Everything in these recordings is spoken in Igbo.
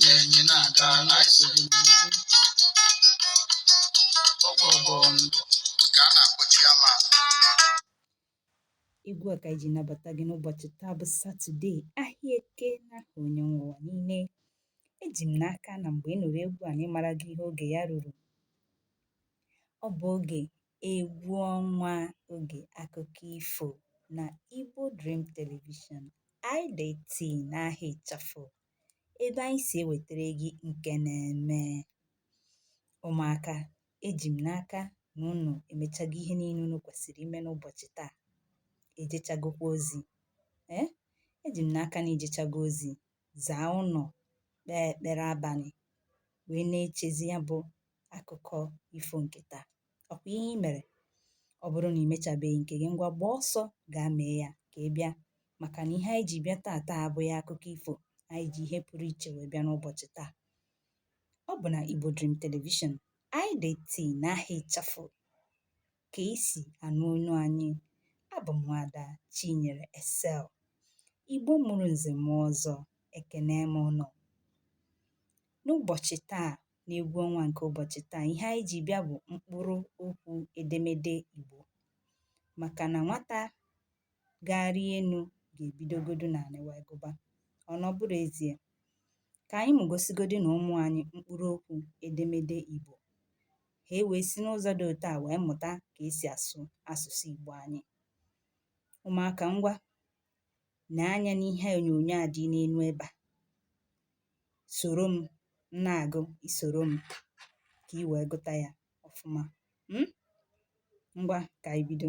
enyi na-aga na anyị so gị n'azụ gwo gwo gwo ngwo ka a na-akpọ chairman egwu a ka anyị ji nabata gị n'ụbọchị taa bụ satọde ahịa eke n'aha onye nwe ụwa niile eji m n'aka na mgbe ị nụrụ egwu a na ị marago ihe oge ya ruru ọ bụ oge egwu ọnwa oge akụkọ ifo na Igbo Dream Television IDT n'aha ịchafụ ebe anyị si ewetara gị nke na-eme ụmụaka eji m n'aka na unu emechago ihe niile unu kwesịrị ime n'ụbọchị taa ejechagokwa ozi ee eji m n'aka na i jechago ozi zaa ụnọ kpee ekpere abanị wee na-echezi ya bụ akụkọ ifo nke taa ọ kwa ihe i mere ọ bụrụ na ị mechabeghị nke gị ngwa gbaa ọsọ gaa mee ya ka ị bịa maka na ihe anyị ji bịa taata abụghị akụkọ ifo anyị ji ihe pụrụ iche wee bịa n'ụbọchị taa ọ bụ na Igbo Dream Television IDT n'aha ịchafụ ka i si anụ onu anyị abụ m nwaada Chinyere Excel Igbo mụrụ nze mụọ ọzọ ekene m unu n'ụbọchị taa n'egwu ọnwa nke ụbọchị taa ihe anyị ji bịa bụ mkpụrụ okwu edemede Igbo maka na nwata ga-arị enu ga-ebidogodu n'anị wee gụba. Ọ na ọ bụrọ ezie? Ka anyị mụgosigodu na ụmụ anyị mkpụrụ okwu edemede Igbo. Ha ewee si n'ụzọ dị otu a wee mụta ka e si asụ asụsụ Igbo anyị. Ụmụaka ngwa nee anya n'ihe onyonyo a dị n'enu ebe a. Soro m na-agụ i soro m ka i wee gụta ya ọfụma. Um Ngwa ka anyị bido.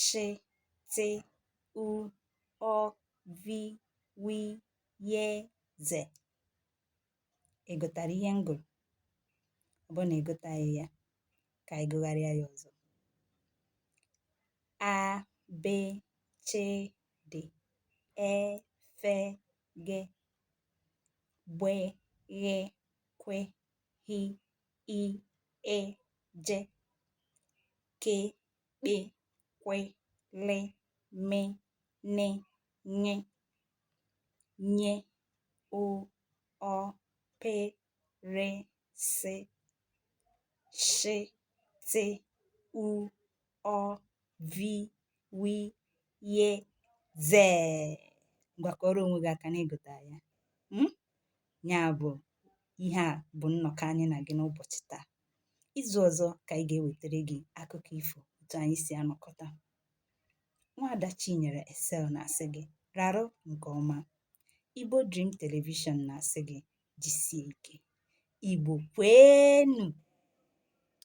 shị tị u ụ vi wi ye ze ị gụtara ihe m gụrụ ọ bụrụ na ị gụtaghị ya ka anyị gụgharịa ya ọzọ a b ch d e f g gbe ghe gwe hi i ị je ke kpe kwe le me ne ṅe nye o ọ pe re se she te u ụ vi wi ye zee. Ngwa kụọrọ onwe gị aka na ị gụtara ya. um ya bụ ihe a bụ nnọkọ anyị na gị n'ụbọchị taa izu ọzọ ka anyị ga-ewetara gị akụkọ ifo otu anyị si anọkọta nwaada chinyere excel na-asị gị rarụ nke ọma igbo dream telivishọn na-asị gị jisie ike igbo kweenu